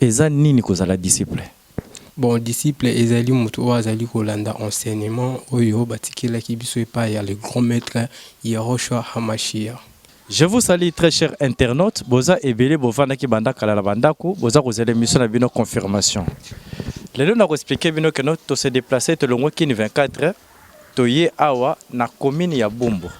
Eza nini kozala disciple? Bon, disciple ezali moto oyo azali kolanda enseignement oyo batikelaki biso epayi ya le grand maitre Yehoshua HaMashiach. Je vous salut très cher internaute boza ebele bovandaki banda kala na ba ndaku boza kozela emission na bino confirmation lelo nako expliquer bino que no to se deplacer tolongwe kin 24 Toye awa na commune ya bumbu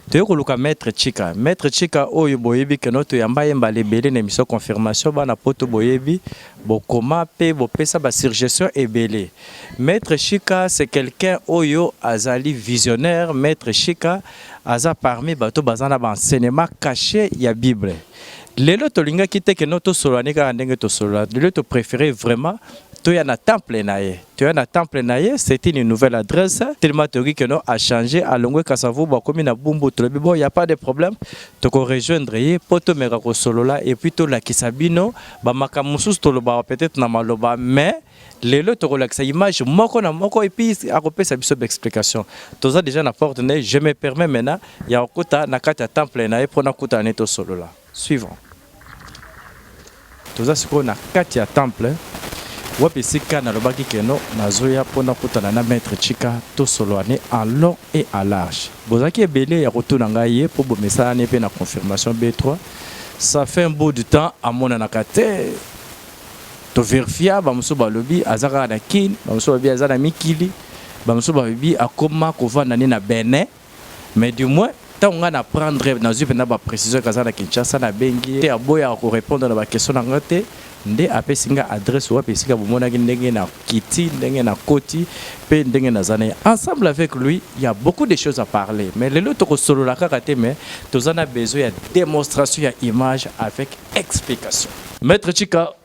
toye koluka maitre chika maitre chika oyo boyebi que no toyamba ye mbala ebele na emission confirmation bana poto boyebi bokoma pe bopesa ba surgestion ebele maitre chika c'est quelqu'un oyo azali visionnaire maitre chika aza parmi bato baza na ba enseignement cache ya bible lelo tolingaki te que no tosolola ne kaka ndenge tosolola lelo to prefere vraiment toya na temple na ye toya na temple na ye c'est une nouvelle adresse tellement toyoki que non a changer alongwe kasavubu akomi na bumbu tolobi bon y a pas de problème toko rejoindre ye mpo tomeka kosolola et puis tolakisa bino bamakambo mosusu tolobaka peut-être na maloba mais lelo tokolakisa image moko na moko et puis akopesa biso baexplication toza déjà na porte na ye je me permets maintenant ya kokota na kati ya temple na ye mpo nakutana ne tosolola suivant Toza sikoyo na kati ya temple wapi esika nalobaki keno nazoya mpo nakutana na maître Chika tosolwane en long et en large. Bozalaki ebele ya kotuna ngai ye mpo bomesanani mpe na confirmation B3 ça fait un bout de temps amonanaka te toverifia bamosusu balobi aza kaka na Kin, bamosusu balobi aza na mikili, bamosusu balobi akoma kovanda nde na Benin. Mais du moins ntango ngai na prendre nazwi mpenza ba precision eke aza na kinshasa nabengi ye te aboyaka korepondre na bakestion na ngai te nde apesi ngai adresse wapi esika bomonaki ndenge na kiti ndenge na koti mpe ndenge naza na ye ensemble avec lui ya beaucoup de choses à parler mais lelo tokosolola kaka te mais toza na besoin ya démonstration ya image avec explication maître chika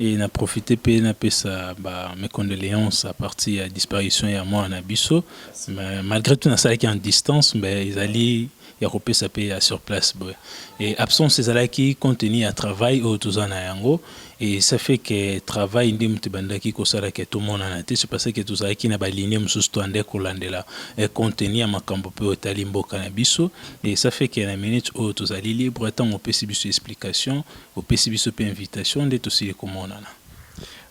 Et na profiter pe na pesa ba mes condoleances à partir ya disparition ya mwana na biso malgre tout na salaki en distance mais ezali ya kopesa pe ya sur place boye et absence ezalaki compte tenu ya travail oyo toza na yango et ça fait que travail nde moto ebandaki kosala ke tomonana te c'est parce que tozalaki na balinie mosusu to ande kolandela compte tenu ya makambo mpe otali mboka na biso et ça fait que na minute oyo tozali libre ntango opesi biso explication Opesi biso pe invitation nde tosili komonana.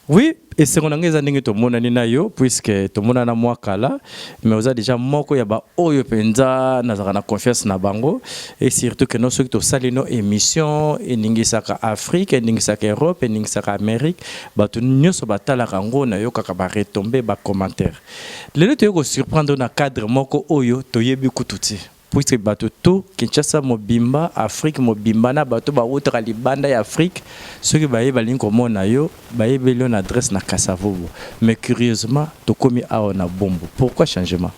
Oui, esengo na ngai eza ndenge tomonani na yo puisque tomonana mwa kala mais oza deja moko ya baoyo mpenza nazalaka na confiance na bango et surtout que no soki tosali no émission eningisaka afrique eningisaka europe eningisaka amérique bato nyonso batalaka yango nayokaka baretombe bacommentaire lelo toyei kosurprendre na cadre moko oyo toyebi kutu te puisque bato tout Kinshasa mobimba, Afrique mobimba na bato ba wutaka libanda ya Afrique soki baye balingi komona yo bayebeli yo na adresse na Kasa Vubu mais curieusement tokomi awa na Bumbu pourquoi changement?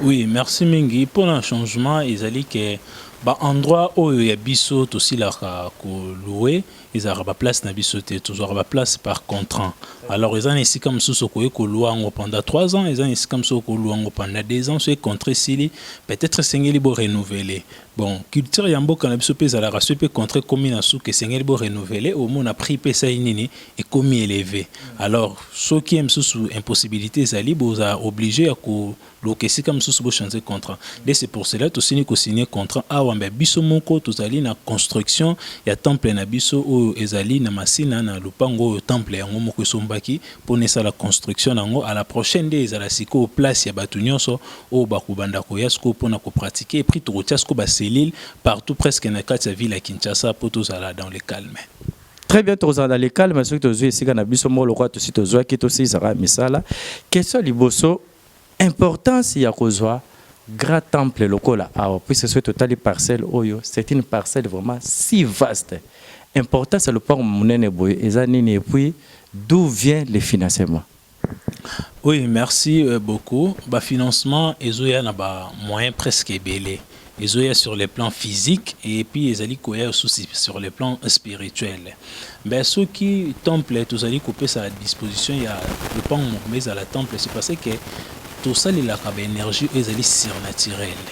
Oui merci mingi pona changement ezali ke ba endroit oyo ya biso tosilaka ko loue ezalaka ba place na biso te tozwaka ba place par contrant alors eza na esika mosusu okoki kolua yango pendant 3 ans eza na esika mosusu okolua yango pendant 2 ans soki contrat esili peut-être esengeli bo renouveler bon culture ya mboka na biso mpe ezalaka soki mpe contrat ekomi na suka esengeli bo renouveler omona prix mpe esali nini ekomi eleve alors soki ye mosusu impossibilité ezali bozala oblige ya ko Luka esika mususu bo change contrat nde c'est pour cela tosili ko signe contrat awa mais biso moko tozali na construction ya temple na biso oyo ezali na masina na lopango oyo temple yango moko esombaki pona esala construction nango à la prochaine nde ezala sikoyo place ya batu nionso oyo bakobanda koya sikoyo pona ko pratique et puis tokotia sikoyo ba cellule partout presque na kati ya ville ya Kinshasa po tozala dans le calme. Très bien, tozala na lekale mais soki tozwi esika na biso moko lokola tosi tozwaki tosilisaka misala. Question liboso Importance ya kozua grand temple lokola awa puisque soki totali parcelle oyo c'est une parcelle vraiment si vaste importance ya lopango munene boye eza nini et puis d'où vient le financement? Oui merci beaucoup ba financement ezoya na ba moyen presque ebele. ezoya sur le plan physique et puis ezali koya aussi sur le plan spirituel mais soki temple tozali kopesa à disposition ya lopango moko mais ezala temple c'est parce que tosalelaka baénergie oyo ezali surnaturel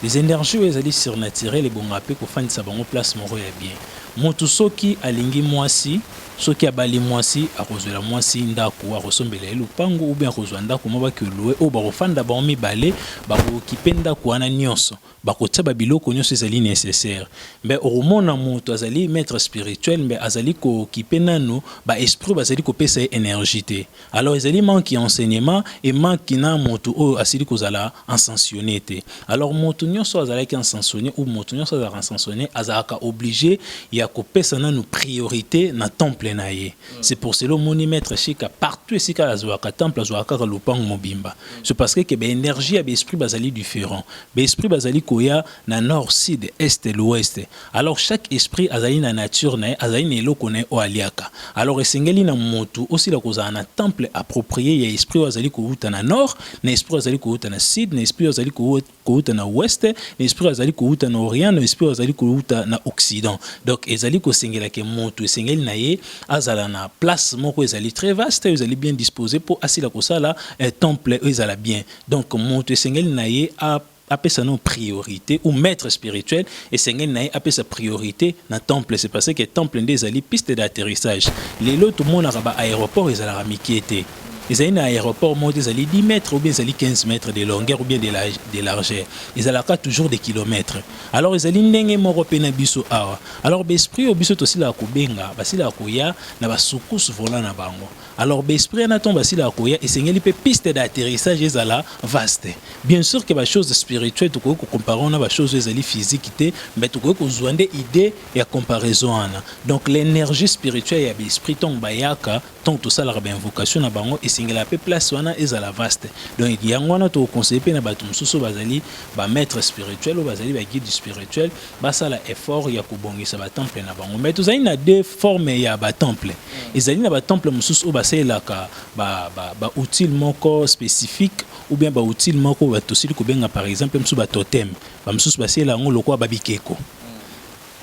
les énergies oyo ezali surnaturel ebonga mpe kofandisa bango place moko ya bien motu soki alingi mwasi Soki abali mwasi, akozwela mwasi ndako, akosombela ye lopango, oubien akozwa ndako mwa baki oloue oyo bakofanda bango mibale, bakokipe ndako wana nionso, bakotia ba biloko nionso ezali necessaire. Mbe okomona mutu azali maitre spirituel mbe azali kokipe nanu ba esprits oyo bazali kopesa ye energie te. Alors ezali manque ya enseignement et manque na moto oyo asili kozala encensionné te. Alors moto nyonso azalaki encensionné ou moto nyonso azalaka encensionné azalaka obligé ya kopesa nanu priorité na temple na ye. Mm. C'est pour cela moni maître Shika partout esika azwaka temple azwaka kaka lopango mobimba. Mm. C'est parce que que ba énergie ya ba esprit bazali différent. Ba esprit bazali koya na nord, sud, est, l'ouest. Alors chaque esprit azali na nature na ye, azali na eloko na ye oyo aliaka. Alors esengeli na mutu osila kozala na temple approprie ya esprit oyo azali kowuta na nord, na esprit oyo azali kowuta na sud, na esprit oyo azali kowuta na ouest, na esprit oyo azali kowuta na orient, na esprit oyo azali kowuta na occident. Donc ezali kosengela ke mutu esengeli na ye azala na place moko ezali très vaste, ezali bien disposer po asila kosala eh, temple oyo ezala bien. Donc mutu esengeli na ye a apesa no priorite ou maitre spirituel esengeli na ye apesa priorite na temple c'est parce que temple nde ezali piste d'atterrissage lelo tomonaka ba aeroport ezalaka mikie te ezali na aeroport moko te ezali 10 mètres ou bien ezali 15 mètres de longueur ou bien de, la, de largeur ezalaka toujours des kilomètres alors ezali ndenge moko mpe na biso awa alors baesprit oyo biso tosilaka kobenga basilaka koya na basukuse volant na bango Alors ba esprit wana ntango basilaka koya esengeli mpe piste d'atterrissage ezala vaste. Bien sûr que ba choses spirituelles tokoki kocompare wana ba choses oyo ezali physique te mais tokoki kozwa nde idée ya comparaison wana. Donc l'energie spirituelle ya ba esprit ntango bayaka ntango tosalaka ba invocation na bango esengelaka mpe place wana ezala vaste. Donc yango wana tokoconseille mpe na bato mosusu oyo bazali ba maître spirituel oyo bazali ba guide spirituel basala effort ya kobongisa ba temple na bango mais tozali na deux formes ya ba temple ezali na ba temple mosusu oyo basalelaka ba, ba, ba outils moko spécifique ou bien ba outils moko oyo tosili kobenga par exemple mosusu ba totem bamosusu basalela yango lokola babikeko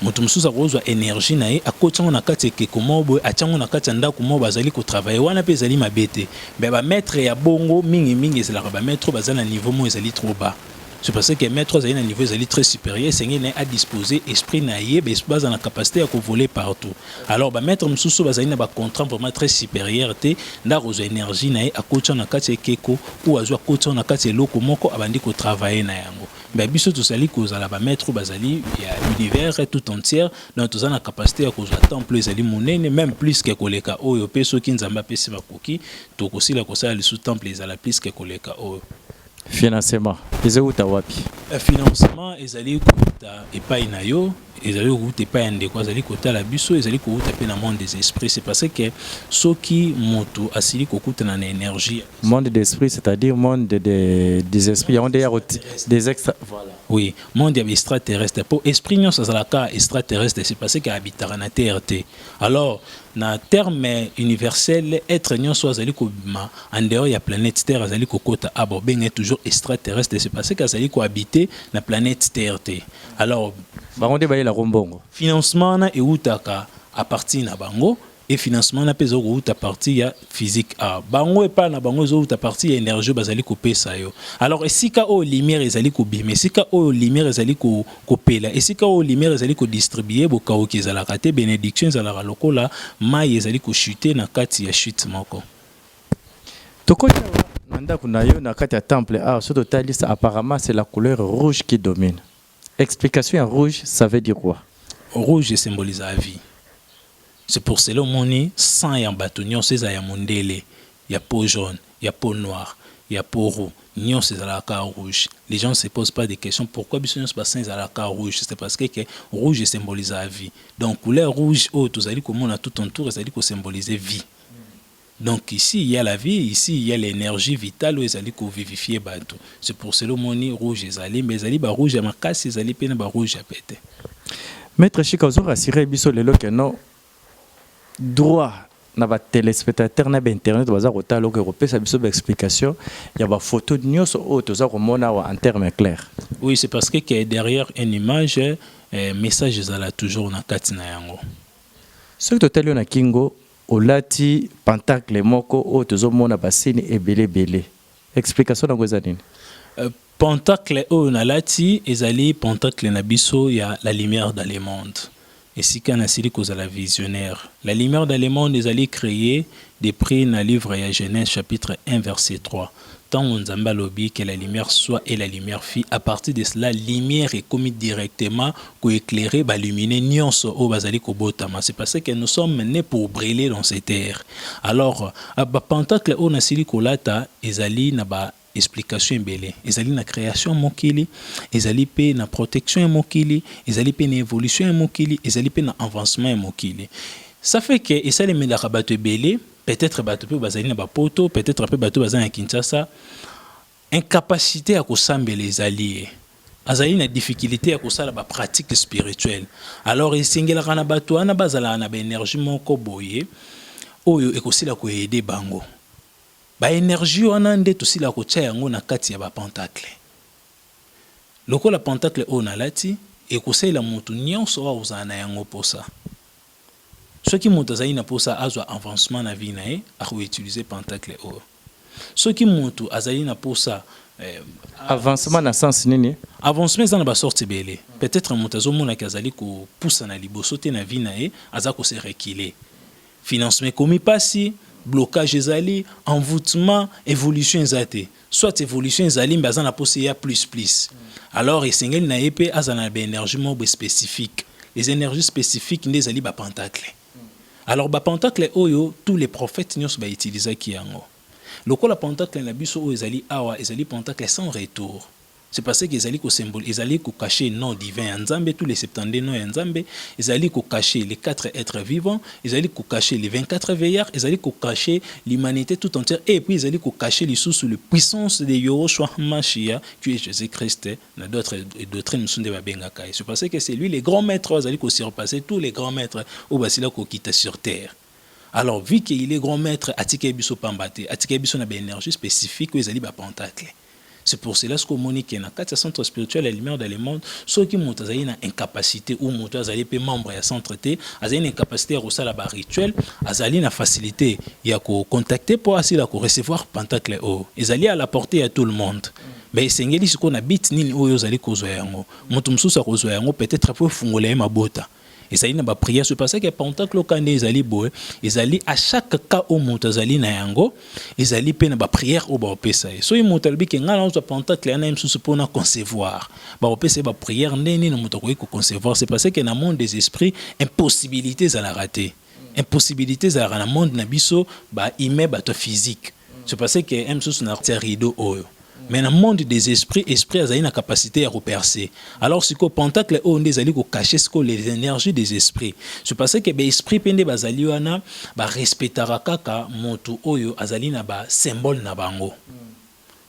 moto mosusu akozwa energie na ye akoti yango na kati ya ekeko moko boye atya yango na kati ya ndako moko bazali kotravaille wana mpe ezali mabe te me bamaitre ya bongo mingimingi ezalaka bamaitre oyo baza na niveau moko ezali trop bas C'est parce que maître azali na niveau ezali très supérieur esengeli na ye adispose esprit na ye baza na capacité ya kovoler partout alors bamaître mosusu oyo bazali na bacontraint vraiment très supérieur te nde akozwa énergie na ye akotya na kati ya ekeko oyo azwi akotya na kati ya eloko moko abandi kotravaille na yango mais biso tozali kozala bamaître oyo bazali ya univers tout entière donc toza na capacité ya kozwa temple ezali monene même plus ke koleka oyo mpe soki nzambe apesi makoki tokosila kosala lisusu temple ezala plus ke koleka oyo Financement ezo wuta wapi? Eh, financement ezali kowuta epai na yo ezali kowuta epai ya ndeko azali kotala biso ezali kowuta mpe na monde des esprits c'est parce que soki moto asili kokutana na énergie monde des esprits c'est-à-dire monde de, de, des esprits yango nde ya des extra voilà oui monde ya extraterrestre mpo esprit nyonso azalaka extraterrestre c'est parce que abitaka na terre te alors Na terme universel, etre nionso oyo azali kobima en dehors ya planète Terre azali kokota awa, bakobenga ye toujours extraterrestre, c'est parce que azali ko habiter na planète Terre te. Alors. Bango nde bayelaka yo mbongo? Financement wana ewutaka à partir na bango et financement wana mpe ezali kowuta à partir ya physique a bango epa na bango ezowuta partie ya energie oyo bazali kopesa yo alors esika oyo lumière ezali kobima esika oyo lumière ezali ko, kopela esika oyo lumière ezali kodistribue bokauki ezalaka te benediction ezalaka lokola mai ezali kochute na kati ya chute moko tokoti awa na ndako na yo na kati ya temple awa so totalisa apparemment c'est la couleur rouge qui domine Explication ya rouge ça veut dire quoi? Rouge e symbolisaka vie. C'est pour cela omoni sang ya batu nionso ezala ya mundele, ya peau jaune, ya peau noire, ya peau roux nionso ezalaka kaka rouge. Les gens ne se posent pas des questions pourquoi biso nionso ba sang ezalaka kaka rouge? C'est parce que que rouge e symbolisaka vie. Donc couleur rouge oyo tozali komona tout entour ezali ko symboliser vie. Donc ici il ya la vie, ici il ya l'energie vitale oyo ezali ko vivifier batu. C'est pour cela omoni rouge ezali mais ezali ba rouge ya makasi ezali pe na ba rouge ya pete. Maitre Shika ozo rassurer biso lelo que non droit na ba telespectateurs na ba internautes baza kotala okoki kopesa biso ba explications ya ba photos nionso oyo toza komona awa en termes clairs? Oui, c'est parce que que derrière un image message ezala toujours na kati na yango. Soki totali yo na kingo Olati pentacle moko oyo tozo mona ba signe ebele ebele explication nango eza nini? Pentacle oyo na lati ezali pentacle na biso ya la lumière dans le monde esika na sili kozala visionnaire. La lumière dans le monde ezali creer de prix na livre ya Genese chapitre 1 verset 3. Tango Nzambe alobi que la lumière soit et la lumière fit, à partir de cela lumière ekomi directement ko eclairer ba lumineux nionso oyo bazali kobotama, c'est parce que nous sommes nes pour briller dans cette ère. Alors, ba pantacles oyo nasili kolata ezali na ba explications ebele, ezali na creation ya mokili, ezali pe na protection ya mokili, ezali pe na evolution ya mokili, ezali pe na avancement ya mokili. Ça fait que esalemelaka batu ebele. peut etre batu pe bazali na ba poto peut etre pe batu bazali na Kinshasa incapacite ya kosambela ezali ye azali na difficulite ya kosala ba pratique spirituelle alors esengelaka na bato wana bazalaka na ba energie moko boye oyo ekosila koede bango ba energie wana nde tosila kotya yango na kati ya ba pentacle lokola pentacle oyo nalati ekosalela moto nyonso oyo akozala na yango mposa Soki mutu azali na posa azwa avancement na vie na ye, ako utiliser pentacle oyo. Soki mutu azali na posa eh, Avancement na sens nini? Avancement eza na ba sorte ebele. Peut etre mutu azo mona ke azali ko pusana liboso te na vie na ye, aza ko se reculer. Financement ekomi pasi, blocage ezali, envoutement, evolution eza te. soit evolution ezali mais aza na posa eya plus plus alors esengeli na ye mpe azala na ba energie moko boye specifique les energies specifiques nde ezali ba pentacle alors ba pentacle oyo tous les prophètes nyonso ba utilisaki yango lokola pentacle na biso oyo ezali awa ezali pentacle sans retour C'est parce que ezali ko symbol, ezali ko cacher nom divin ya Nzambe, tous les 72 noms ya Nzambe, ezali ko cacher les quatre etres vivants, ezali ko cacher les 24 veillards, ezali ko cacher l'humanite tout entière et puis ezali ko cacher lisusu le puissance de Yehoshua HaMashiach qui est Jesus Christ na d'autres doctrines mosusu nde babengaka ye. C'est parce que c'est lui le grand maître oyo azali ko surpasser tous les grands maîtres oyo basila kokita sur terre. Alors vu que il est grand maitre atikeli biso pamba te, atikeli biso na ba energie specifique oyo ezali ba pentacle. C'est pour cela sikoyo omoni que na kati ya centre spirituel ya lumière dans le monde, soki moto azali na incapacite ou moto azali pe membre ya centre te, azali na incapacite ya kosala ba rituel, azali na facilite ya ko contacter po asila ko recevoir pentacle oyo. Ezali à la portee ya tout le monde. Mais esengeli sikoyo na but nini oyo ozali kozwa yango. Moto mosusu akozwa yango peut-etre po efungola ye mabota. ezali na bapriere so pasaki ya pentacle oka nde ezali boye ezali a chaque cas oyo moto azali na yango ezali mpe na bapriere oyo bakopesa ye soki moto alobi ke ngai naozwa pentacle yana ye mosusu mpona concevoir bakopesa ye bapriere nde nini moto akoki koconcevoir se paseke na monde des esprits impossibilité ezalaka te impossibilité ezalaka na monde na biso ba humain bato ya physique c'est parce que eme susu na tia rideau oyo mais na monde des esprits esprit azali na capacité ya koperce alors sikoyo pentacle oyo nde ezali kokache sikoyo les énergies des esprits c'est parce que baesprit mpe nde bazali wana barespectaka kaka moto oyo azali na basymbole na bango mm.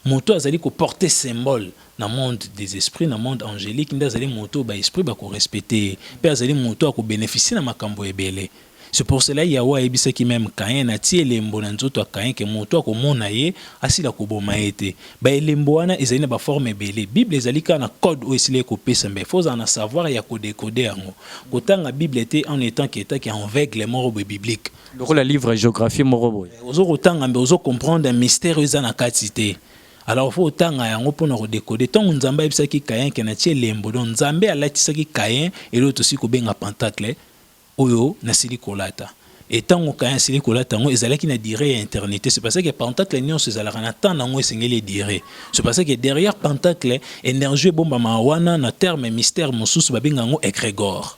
Moto oyo azali ko porter symbole na monde des esprits, na monde angelique nde azali moto oyo ba esprits bako respecter ye mpe azali moto oyo ako beneficier na makambo ebele. C'est pour cela Yahweh ayebisaki meme Caïn, atie elembo na nzoto ya Caïn que moto oyo akomona ye, asila koboma ye te. Ba elembo wana ezali na ba formes ebele. Bible ezali kaka na code oyo esila ekopesa mais il faut ozala na savoir ya ko decoder yango. Kotanga Bible te en etant que etant que enveugle moko boye biblique. lokola livre ya géographie moko boye ozo kotanga mbe ozo comprendre mystère eza na kati te alors faut otanga yango mpo na kodekode ntango nzambe ayebisaki kayen ke natie elembo donc nzambe alatisaki kayen eloo tosili kobenga pentacle oyo nasili kolata e ntango kayen asili kolata yango ezalaki na dire ya internité c'est parce que pentacle nyonso ezalaka na temps nango esengeli edire c'est parce que derrière pentacle énergie ebombamaka wana na terme mystère mosusu babenga yango egregore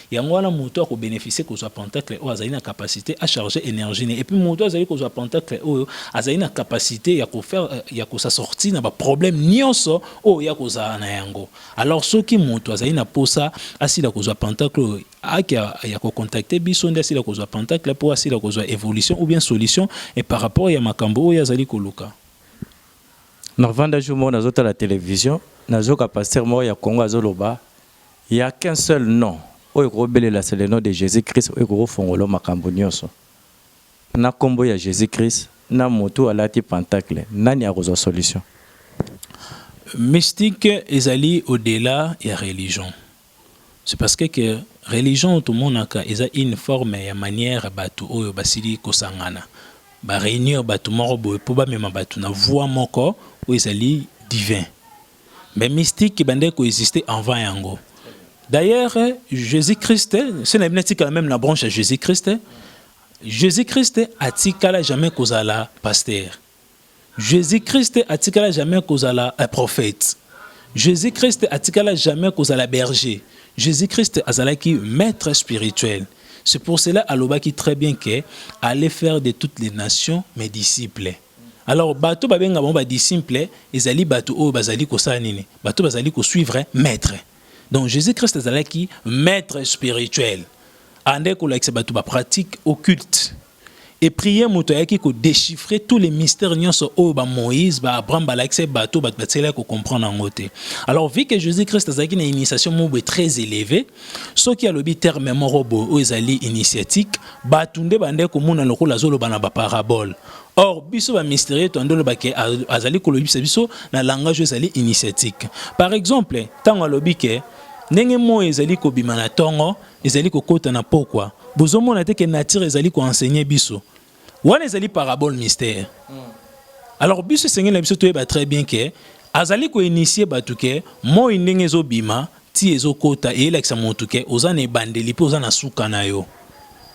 Yango wana moto ako beneficier kozwa pentacle oyo azali na capacite a charger energie ne ye. Et puis moto azali kozwa pentacle oyo azali na capacite ya ko faire euh, ya ko sa sortir na ba problèmes nionso oyo ya kozala na yango. Alors soki moto azali na posa asila kozwa pentacle oyo ake ya ko contacter biso nde asila kozwa pentacle po asila kozwa evolution ou bien solution et par rapport ya makambo oyo azali koluka. Na vanda jour moko nazo tala television nazoka pasteur moko ya Congo azoloba Il ya qu'un seul nom oyo ekoki kobelela c'est le nom de Jesus Christ oyo ekoki kofongolo makambo nioso. Na kombo ya Jesus Christ na mutu alati pentacle nani akozwa solution? Mystique ezali au dela ya religion c'est parce que que religion oyo tomonaka eza une forme ya manière batu oyo basili kosangana ba reunir batu moko boye po bamema batu na voie moko oyo ezali divin. mais mystique ebandaki ko exister avant yango d'ailleurs jésus christ se na bino etikala même na branche ya jésus christ jésus christ atikala jamais kozala pasteur jésus christ atikala jamais kozala un prophète jésus christ atikala jamais kozala berger jésus christ azalaki maître spirituel c'est pour cela alobaki très bien que allez faire de toutes les nations mes disciples Alors bato ba benga bango ba disciples ezali bato oyo bazali kosala nini? Bato bazali ko suivre maitre. Donc Jesus Christ azalaki maitre spirituel. Andai kolakisa bato ba pratique occulte. Et prier moto ayaki ko dechiffrer tous les mystères nyonso oyo ba Moïse, ba Abraham balakisa bato, bato batselaki ko comprendre yango te. Alors vu que Jesus Christ azalaki na initiation moko boye très élevée, soki alobi terme moko boye oyo ezali initiatique, bato nde bandai komona lokola azoloba na ba paraboles. Or, biso ba mysterieux to andolo ba ke azali ko lobisa biso na langage ezali initiatique. Par exemple, tango alobi ke ndenge moi ezali ko bima na tongo, ezali ko kota na pokwa. Bozo mona te ke nature ezali ko enseigner biso. Wana ezali parabole mystère. Hmm. Alors biso esengeli na biso toyeba très bien ke azali ko initier batu ke moi ndenge ezo bima Tii ezo kota eye lakisa mutu ke oza na ebandeli pe oza na suka na yo.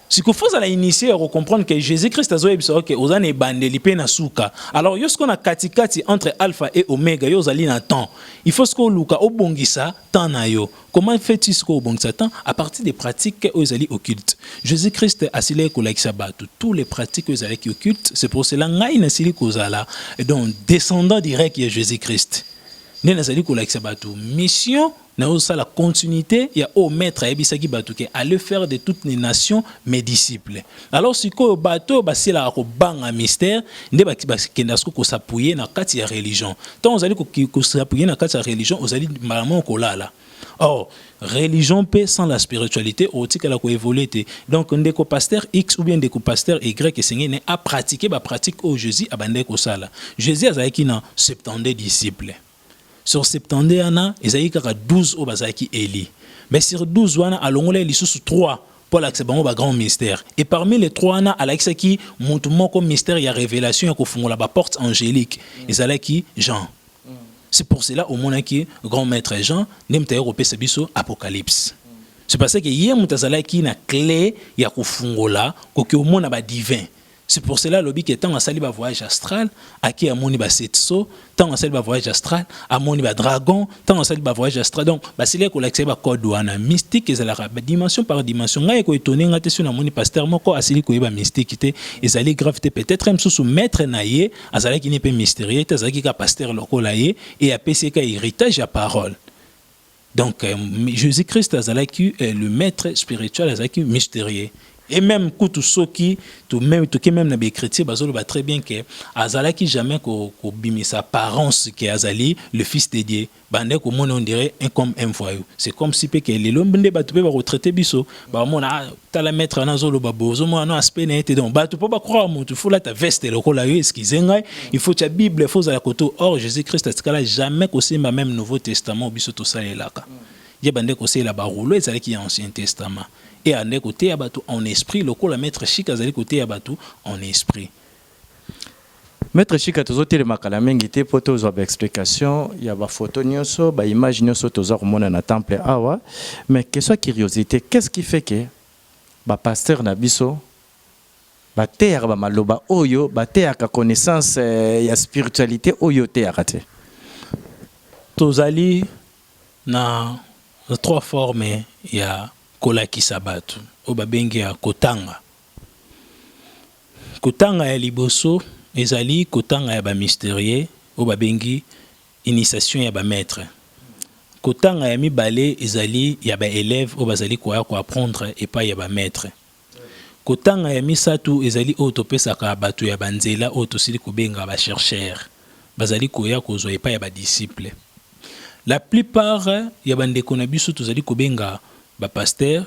Siko faut ozala initie ya ko comprendre ke Jesus Christ azo yebisa yo ke oza na ebandeli pe na suka. Alors yo sikoyo na kati kati entre alpha et omega yo ozali na temps. Il faut sikoyo oluka obongisa temps na yo. Comment fait tu sikoyo obongisa temps? A partir des pratiques oyo ezali occulte. Jesus Christ asilaki ko lakisa batu tous les pratiques oyo ezalaki occulte. C'est pour cela ngai na sili kozala donc descendant direct ya Jesus Christ. nde nazali kolakisa bato mission nazosala continuité ya oyo maître ayebisaki bato ke aller faire de toutes les nations mes disciples alors sikoyo bato oyo basilaka kobanga mystère nde bakenda siko kosapuye na kati ya religion ntango ozali kosapuye na kati ya religion ozali mbala moko kolala Or, religion pe sans la spiritualité otikala ko évoluer te. Donc ndeko pasteur X ou bien ndeko pasteur Y esengeli ne a pratiquer ba pratique oyo Jésus abandaki kosala. Jésus azalaki na 72 disciples. Sur 72 wana ezalaki kaka 12 oyo bazalaki eli. Mais sur 12 wana alongolaki lisusu 3 mpo alakisa bango ba grand mystère et parmi les trois wana alakisaki motu moko mystère ya révélation ya kofungola ba porte angélique ezalaki Jean. C'est pour cela omonaki grand maître Jean nde moto ayaki kopesa biso apocalypse. C'est parce que ye moto azalaki na cle ya kofungola koki omona ba divin. C'est pour cela alobi ke ntango asali ba voyage astral ake amoni ba setso, ntango asali ba voyage astral amoni ba dragon, ntango asali ba voyage astral donc basilaki kolakisa ye ba code wana. Mystique ezalaka ba dimension par dimension. Ngai eko etonner ngai te soki namoni pasteur moko asili koyeba mystique te, ezali grave te peut-etre ye mosusu maitre na ye Azalaki ne pe mysterieux te, azalaki kaka pasteur lokola ye et apesi ye kaka heritage ya parole. Donc euh, Jesus Christ azalaki euh, le maître spirituel, azalaki mysterieux. Et même kutu soki to même toke même na b'ecriture bazoloba très bien que azalaki jamais ko kobimisa apparence que azali le fils de Dieu. bande komona on dirait un comme un voyou c'est comme si pe que lelo nde batu pe bako traiter biso ba mona ah, tala maître ana zo loba bo zo mona no aspect na ete donc batu po ba croire mutu faut lata veste lokola yo excuse ngai il faut tia bible faut zala koto or Jésus Christ atikala jamais kosimba même nouveau testament biso to salelaka ye bande kosela ba rouleau ezalaki ya ancien testament et ande koteya batu en esprit lokola maître chic azali koteya batu en esprit Maitre shika tozo telema kala mingi te po to zwa ba explication ya ba photo nioso ba image nioso toza komona na temple awa mais question curiosite qu'est ce qui fait que ba pasteur na biso ba teyaka ba maloba oyo ba teyaka connaissance ya spiritualite oyo oteyaka te? Tozali na trois formes ya kolakisa batu oyo ba bengi ya kotanga. Kotanga ya liboso ezali kotanga ya ba mysterieux oyo babengi initiation ya ba maitres. Kotanga ya mibale ezali ya ba elèves oyo bazali koya ko apprendre epayi ya ba maitres. Kotanga ya misato ezali oyo topesaka batu ya ba nzela oyo tosili kobenga ba chercheurs, bazali koya kozwa epayi ya ba disciples. La plupart ya bandeko na biso tozali kobenga ba pasteurs.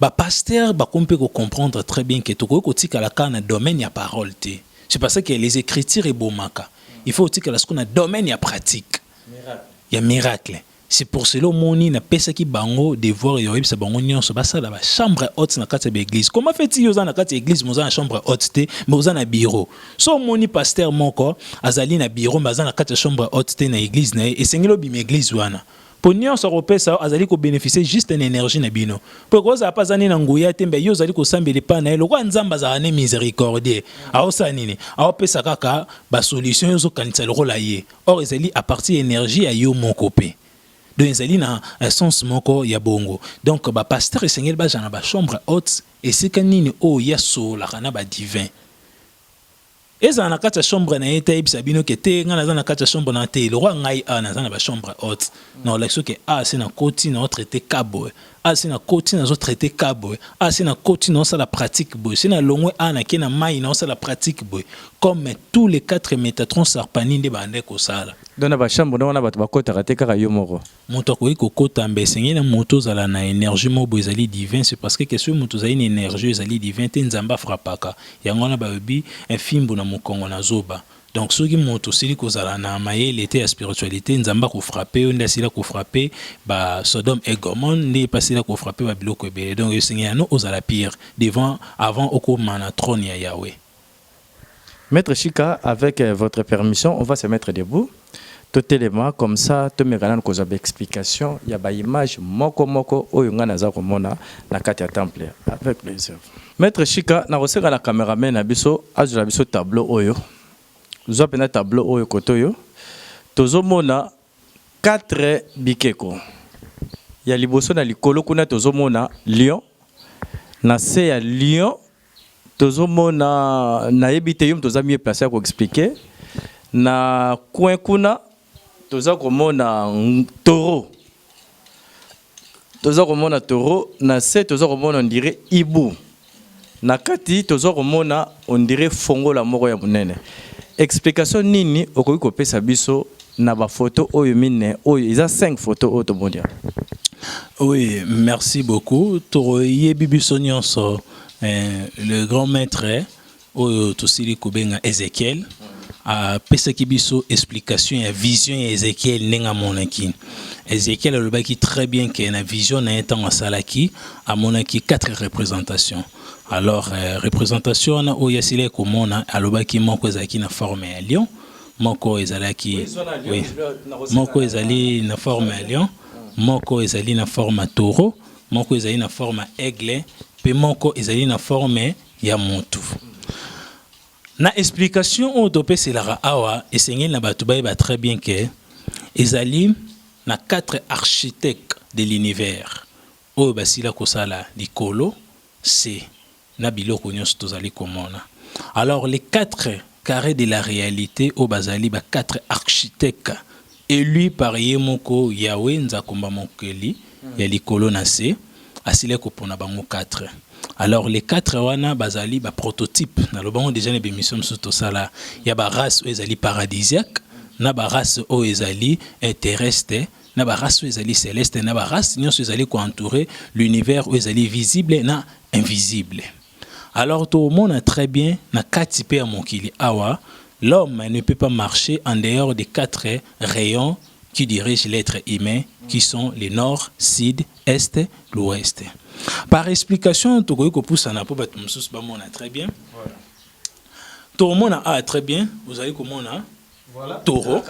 Ba pasteurs bakomi pe ko comprendre très bien que tokoki kotikala kaka na domaine ya parole te, c'est par ce que les ecritures ebomaka, il faut otikala sikoyo na domaine ya pratique, ya miracle, c'est pour cela omoni napesaki bango devoir ya koyebisa bango nionso basala ba chambres hautes na kati ya ba eglises, comment fait il yo oza na kati ya eglise mais oza na chambre haute te mais oza na bureau? Soki omoni pasteur moko azali na bureau mais aza na kati ya chambre haute te na eglise na ye, esengeli obima eglise wana Mpo nyonso akopesa yo azali ko beneficier juste na energie na bino. Mpo ekozala mpe aza nde na nguya te, mbe yo ozali kosambela epai na ye. Lokola Nzambe azalaka nde misericordieux, aosala nini? Aopesa kaka ba solutions yo ozokanisa lokola ye. Or ezali à partir ya energie ya yo moko mpe. Donc ezali na sens moko ya bongo. Donc ba pasteurs esengeli bazala na ba chambres hautes, esika nini oyo ye asololaka na ba divins. Ezala na kati ya chambre na ye te ayebisa bino ke te ngai naza na kati ya chambre na te lokwa ngai a naza na ba chambre haute mm. na olakisi ke a se na koti na traite ka boye a se na koti nazo traite ka boye a se na koti na osala pratique boye se na longwe a na ke na mai na osala pratique boye comme tous les quatre métatrons sarpani nde bandai kosala donc na ba chambre donc wana bato bakotaka te kaka yo moko Mutu akoki ko kota mbe esengeli na mutu ozala na energie moko boye ezali divin ce parce que soki mutu ozali na energie oyo ezali divin te nzambe a frappaka yango wana balobi un fimbu na mukongo na zoba donc soki mutu osili kozala na mayele te ya spiritualite nzambe ako frappe yo nde asila ko frappe ba sodome et gomone nde ye pe asila ko frappe ba biloko ebele donc esengeli na no ozala pire devant avant okoma na trone ya yahweh. Maitre Shika avec votre permission on va se mettre debout totelema comme ça tomeka nanu kozwa ba explication ya ba image moko moko oyo nga naza komona na kati ya temple avec plaisir. Maitre Shika nakosenga na cameraman na biso azwela biso tableau oyo zwa mpenza tableau oyo kote oyo tozomona 4 bikeko ya liboso na likolo kuna tozomona lion na se ya lion Tozomona nayebi te yo moto oza mieux place ya ko expliquer na coin kuna toza komona toro toza komona toro na se toza komona ondire ibu na kati toza komona ondire fongola moko ya monene explication nini okoki kopesa biso na bafoto oyo mine oyo eza 5 foto oyo tomoni yango Oui, merci beaucoup. Toro yebi biso nyonso Le grand maitre oyo tosili kobenga Ezechiel apesaki biso explication ya vision ya Ezechiel ndenge amonaki. Ezechiel alobaki très bien que na vision na ye ntango asalaki amonaki quatre representations. Alors euh, représentation wana oyo asilaki komona alobaki moko ezalaki na forme ya lion, moko ezalaki oui, moko ezali na forme ya lion, moko ezali na forme ya taureau Moko ezali na forme ya aigle pe moko ezali na forme ya mutu. Na explication oyo topeselaka awa esengeli na batu bayeba très bien que ezali na quatre architectes de l'univers oyo basila kosala likolo, se, na biloko nionso tozali komona alors les quatre carre de la realite oyo bazali ba quatre architecte elus par ye moko Yahweh Nzakomba mokeli ya likolo na se asilaki kopona bango quatre alors les quatre wana bazali ba prototype na lobango deja na ba emission mosusu tosala ya ba race oyo ezali paradisiaque na ba race oyo ezali terrestre na ba race oyo ezali celeste na ba race nionso ezali ko entoure l'univers oyo ezali visible na invisible alors tomona très bien na kati pe ya mokili awa l'homme ne peut pas marcher en dehors des quatre rayons qui dirigent l'être humain qui sont le nord, sud, est, l'ouest. Par explication tokoki kopusana mpo bato mosusu bamona très bien voilà. tomona a ah, très bien ozali komona voilà. toro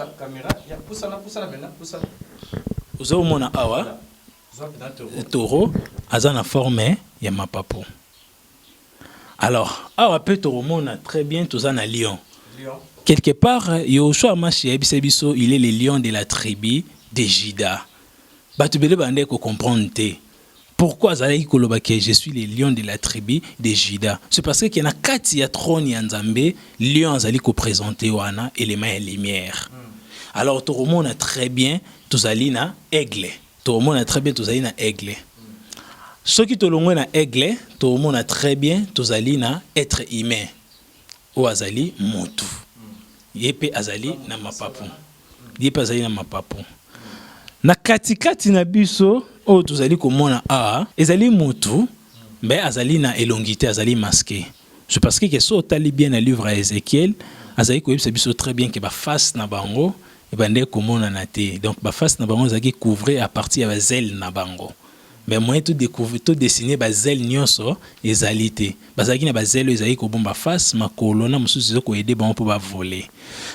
ozali komona awa voilà. Toro aza na forme ya mapapu alors awa mpe tokomona très bien toza na lion quelque part yoshua mashi ayebisa biso il est le lion de la tribu de juda bato bele bandaki kocomprendre te pourquoi azalaki koloba ke je suis le lion de la tribu de juda c'est parce que na kati ya trône ya nzambe lion azali kopresente wana elema ya lumière alors tokomona très bien tozali na aigle Tomona très bien tozali na aigle. Soki tolongwe na aigle, tomona très bien tozali na être humain. Oyo azali mutu. Ye pe azali na mapapu. Ye pe azali na mapapu. Na kati kati na biso oyo tozali komona awa ezali mutu mais azali na elongi te azali masque. Je parce que so otali bien na livre ya Ezekiel azali koyebisa biso très bien ke baface na bango ebandaki komonana te donc baface na bango ezalaki couvrir à partir ya bazele na bango mais moyen to découvrir to dessiner bazele nyonso ezali te bazalaki na bazele oyo ezalaki kobomba face makolo na mosusu ezali koyede bango mpo bavole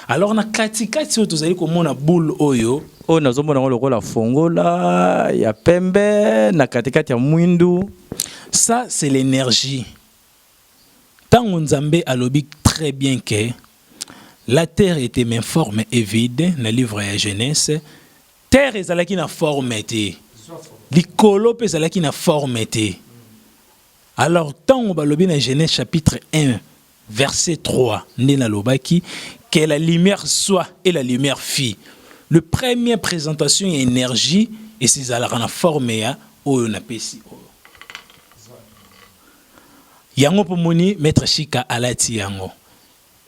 alors na katikati oyo tozali komona boule oyo oyo nazomona yango lokola fongola ya pembe na katikati ya mwindu ça c'est l'énergie Tango Nzambe alobi très bien que la terre etait mais forme et vide na livre ya Genese, terre ezalaki na forme te, likolo mpe ezalaki na forme te. Alors tango balobi na Genese chapitre 1 verset 3 nde nalobaki que la lumière soit et la lumière fit. Le premier présentation ya énergie ezalaka na forme ya oyo napesi oyo. Yango po moni maitre Shika alati yango.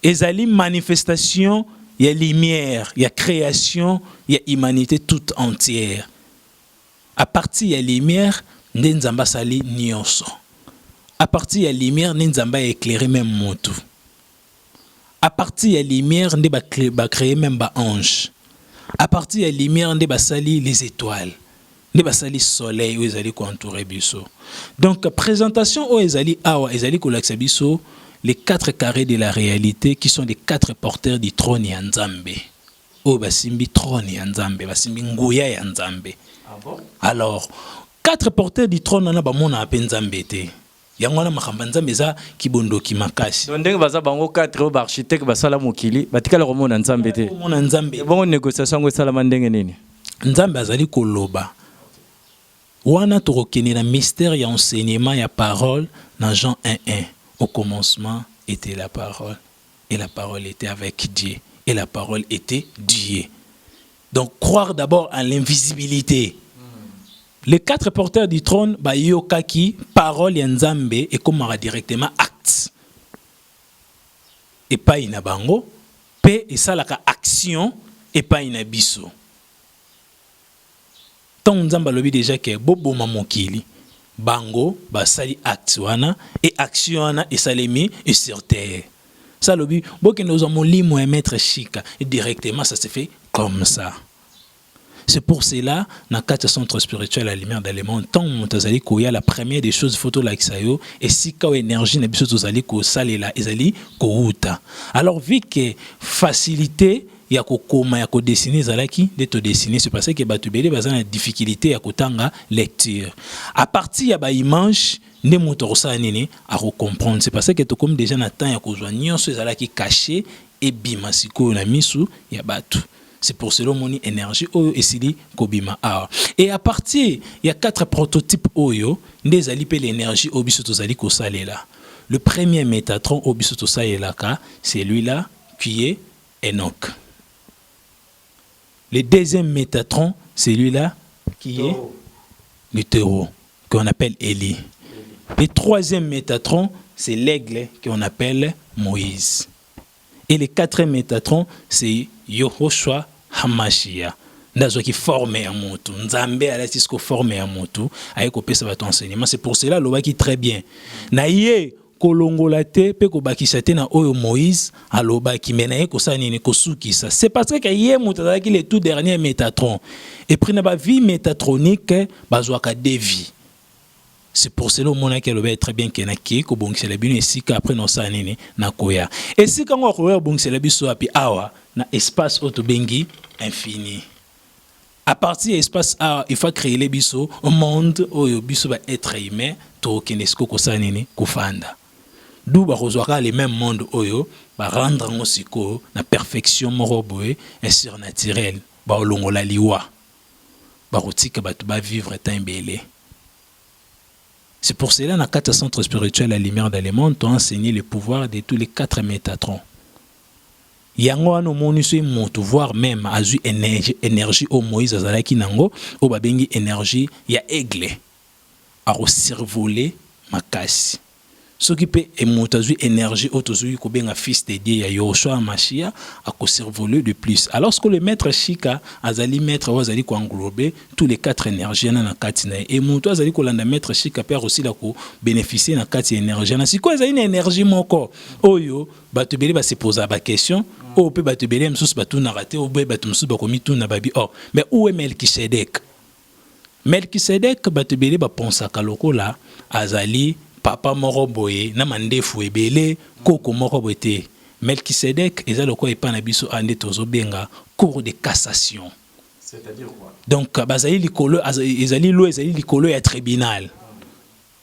Ezali manifestation ya lumière ya creation ya humanite tout entière. A partir ya lumière nde Nzambe asali nioso. A partir ya lumière nde Nzambe a eclairer meme mutu. A partir ya lumière nde ba cree meme ba anges. A partir ya lumière nde basali les etoiles. Nde basali soleil oyo ezali ko entourer biso. Donc presentation oyo ezali awa ezali kolakisa biso les quatre carres de la realite qui sont les quatre porteurs du trone ya Nzambe. Oyo basimbi trone ya Nzambe, basimbi nguya ya Nzambe. Ah bon? Alors, quatre porteurs du trone wana bamonaka mpe Nzambe te. Yango wana makambo ya Nzambe eza kibondoki makasi. Donc ndenge baza bango quatre oyo ba architecte basala mokili batikala komona Nzambe te. Komona Nzambe. Ebongo negociation yango esalama ndenge nini? Nzambe azali koloba. Wana tokokende na mystère ya enseignement ya parole na Jean 1:1. Au commencement était la parole et la parole était avec Dieu et la parole était Dieu. Donc croire d'abord à l'invisibilité. Les quatre porteurs du trône bayokaki parole ya Nzambe ekomaka directement acte epai na bango mpe esalaka action epai na biso. Tango nzambe alobi dejà ke bo boma mokili bango ba sali acte wana et action wana esalemi et sur terre sa alobi bo kende kozwa molimo ya maitre shika et directement sa se fait comme sa ce pour cela na kati ya centre spirituel ya lumière de le monde tango moto azali koya la première des choses faut tolakisa yo esika oyo energie na biso tozali kosalela ezali kowuta alors vue ke facilite ya ko koma ya ko dessiner ezalaki nde to dessiner c'est parce que batu ebele baza na difficulite ya kotanga lecture à partir ya ba image nde moto akosala nini ako comprendre c'est parce que tokomi dejà na temps ya kozwa nyonso ezalaki cache ebima sikoyo na misu ya batu c'est pour cela omoni énergie oyo esili kobima awa et à partir ya quatre prototype oyo nde ezali mpe l'énergie oyo biso tozali kosalela le premier métatron oyo biso tosalelaka celui là qui est Enoch. Le deuxième Metatron, celui-là qui est le taureau, qu'on appelle Élie. Le troisième Métatron, c'est l'aigle qu'on appelle Moïse. Et le quatrième Métatron, c'est Yohoshua Hamashia. qui forme ya motu nzambe alati siko forme ya motu aye kopesa bato enseignement c'est pour cela alobaki très bien na ye kolongola te pe kobakisa te na oyo Moïse alobaki mais naye kosala nini kosukisa c'est parce que ye moto azalaki le tout dernier Metatron et puis na ba vie metatronique bazwaka de vie c'est pour cela omonaki alobaki très bien ke nakei kobongisela bino esika après naosala nini nakoya esika yango akoya kobongisela biso wapi awa na espace oyo tobengi infini A partir ya espace A il faut creer biso monde oyo biso ba etre humain tokokende siko kosala nini kofanda d'où bakozwa kaka le même monde oyo ba rendre yango sikoyo na perfection moko boye surnaturel baolongola liwa bakotika bato ba vivre temps ebele C'est pour cela na kati ya centre spirituel ya lumière dans le monde to enseigner le pouvoir de tous les quatre métatrons Yango wana omoni soki mutu voir meme azui energie oyo Moïse azalaki nango oyo babengi energie ya aigle ako survoler makasi soki pe mutu azui energie oyo tozui kobenga fils de Dieu ya Yoshua Mashia ako survoler de plus alors que le maitre Shika azali maitre oyo azali ko englober tous les quatre energie wana na kati na ye et mutu azali kolanda maitre Shika pe akosila ko beneficier na kati ya energie wana sikoyo ezali na energie moko oyo Bato ebele ba se pozaka ba questions oyo mpe bato ebele mosusu batunaka te, oyo mpe bato mosusu bakomituna babi oh mais où est Melchisedek? Melchisedek bato ebele ba pensaka lokola azali papa moko boye na mandefu ebele, koko moko boye te. Melchisedek eza lokola epai na biso awa nde tozo benga cour de cassation. Donc bazali likolo, ezali loi ezali likolo ya tribunal.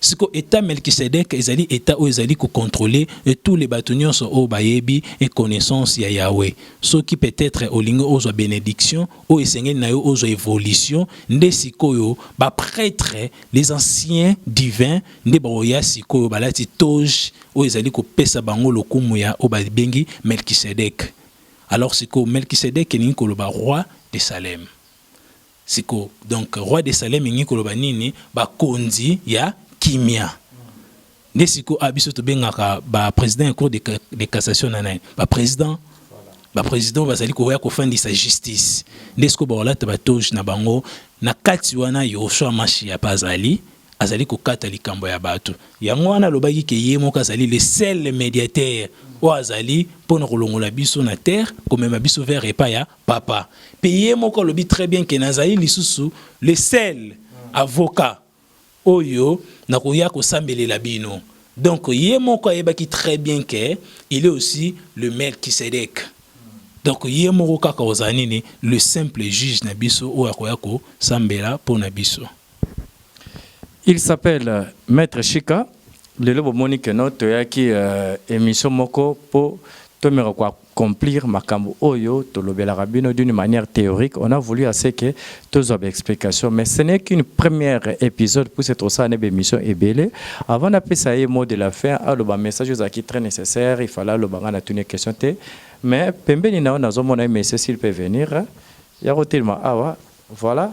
Sikoyo etat Melchisedek ezali etat oyo ezali ko controler tous les batu nionso oyo bayebi et connaissance ya Yahweh. Soki peut etre olingi ozwa benediction oyo esengeli na yo ozwa evolution nde sikoyo ba pretres les anciens divins nde bakoya sikoyo balati toge oyo ezali kopesa bango lokumu ya oyo babengi Melchisedek. Alors sikoyo Melchisedek elingi koloba Roi de Salem. Siko donc roi de salem elingi koloba nini ba konzi ya kimia nde siko a biso tobengaka ba president ya cour de cassation na nani ba president ba president bazali koya kofandisa justice nde siko bakolata ba toge na bango na kati wana yehosua mashia pe azali azali kokata likambo ya bato yango wana alobaki ke ye moko azali le seul mediateur oyo azali mpo na kolongola biso na terre komema biso vers epa ya Papa pe ye moko alobi très bien que nazali lisusu le seul avocat oyo nakoya kosambelela bino donc ye moko ayebaki très bien que il est aussi le Melchisedec donc ye moko kaka ozala nini le simple juge na biso oyo akoya kosambela pona biso. Il s'appelle maitre shika lelo bomoni que no toyaki euh, emission moko po tomeka ko accomplir makambo oyo tolobelaka bino d'une manière théorique on a voulu à ce que tozwa ba explication mais ce n'est qu'une première épisode pour cette osala ne bemission ebele avant napesa ye mot de la fin aloba message ozalaki très nécessaire il fallait aloba nga natuni question te mais pembeni na yo nazomona ye monsieur s'il peut venir ya kotelema awa voilà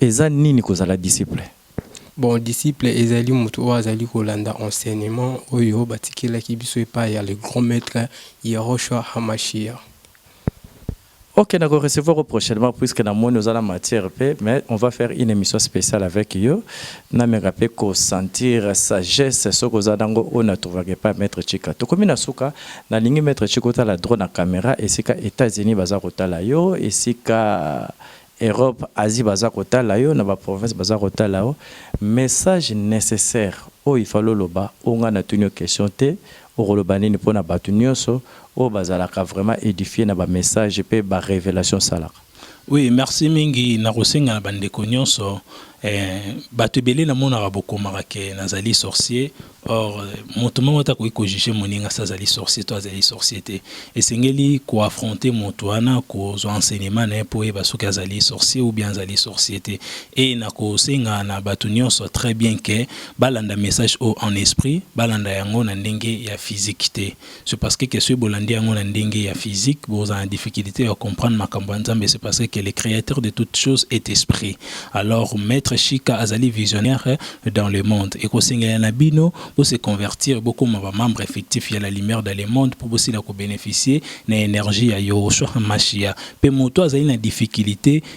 Eza nini kozala disciple? Bon, disciple ezali moto oyo azali kolanda enseignement oyo batikelaki biso epayi ya le Grand Maitre Yehoshua HaMashiach. Ok, nako recevoir yo prochainement puisque namoni oza na matière pe, mais on va faire une emission speciale avec yo, nameka pe ko sentir sagesse soki oza na ngo oyo na trouvaka epayi ya Maitre Chika. Tokomi na suka, nalingi Maitre Chika otala droit na camera esika Etats-Unis baza kotala yo, esika Europe Asie baza kotala yo na ba province baza kotala yo message necessaire oyo ifale oloba oyo nga na tuni yo question te okoloba nini pona batu nioso oyo bazalaka vraiment edifie na ba message pe ba revelation osalaka. Oui merci mingi nakosenga na bandeko nionso eh batu ebele namonaka bokomaka ke nazali sorcier Or, moto moko te akoki kojuge moninga si azali sorcier to azali sorcier te. Esengeli koaffronte moto wana, kozwa enseignement na ye mpo oyeba soki azali sorcier ou bien azali sorcier te. Et nakosenga na bato nyonso très bien que balanda message oyo en esprit, balanda yango na ndenge ya physique te. Ce parce que que soki bolandi yango na ndenge ya physique bokozala na difficulite ya comprendre makambo ya Nzambe ce parce que le createur de toute chose est esprit alors maître Shika azali visionnaire dans le monde ekosengela na bino bo se convertir bokoma ba membre effectif ya la lumière dans le monde mpo bosila ko bénéficier na énergie ya Yoshua Mashia mpe moto azali na difficulté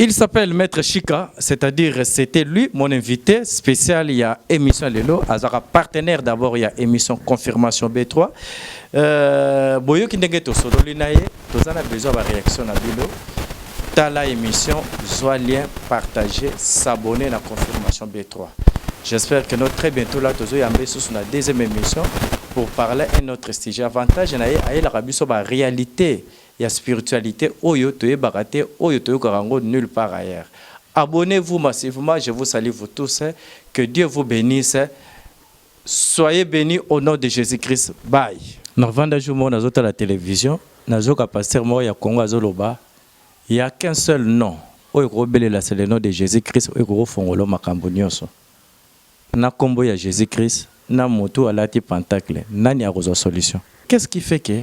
Il s'appelle Maitre Shika, c'est-à-dire c'était lui mon invité spécial il y a émission Lelo, azaka partenaire d'abord il y a émission Confirmation B3. Euh, boyo ki ndenge to solo linaye, to zana besoin ba réaction na bilo. Ta la émission, zwa lien, partager, s'abonner na Confirmation B3. J'espère que notre très bientôt là tozo yambe sous na deuxième émission pour parler un autre sujet avantage na ye ayela kabiso ba réalité ya spiritualite oyo toyebaka te oyo toyokaka yango nul part ailleurs abonnez vous massivement je vous salut vous tous que Dieu vous benisse soyez beni au nom de Jesus Christ bye. Na vanda jour moko nazo tala television nazo ka pasteur moko ya Congo azo loba il ya qu'un seul nom oyo ko belela c'est le nom de Jesus Christ oyo ko fongolo makambo nioso na kombo ya Jesus Christ na mutu alati pentacle nani akozwa solution qu'est ce qui fait que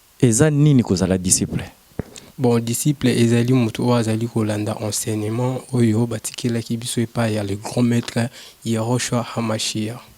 Eza nini kozala disciple? Bon, disciple ezali moto oyo azali kolanda enseignement oyo batikelaki biso epayi ya le grand maitre Yehoshua Hamashiach.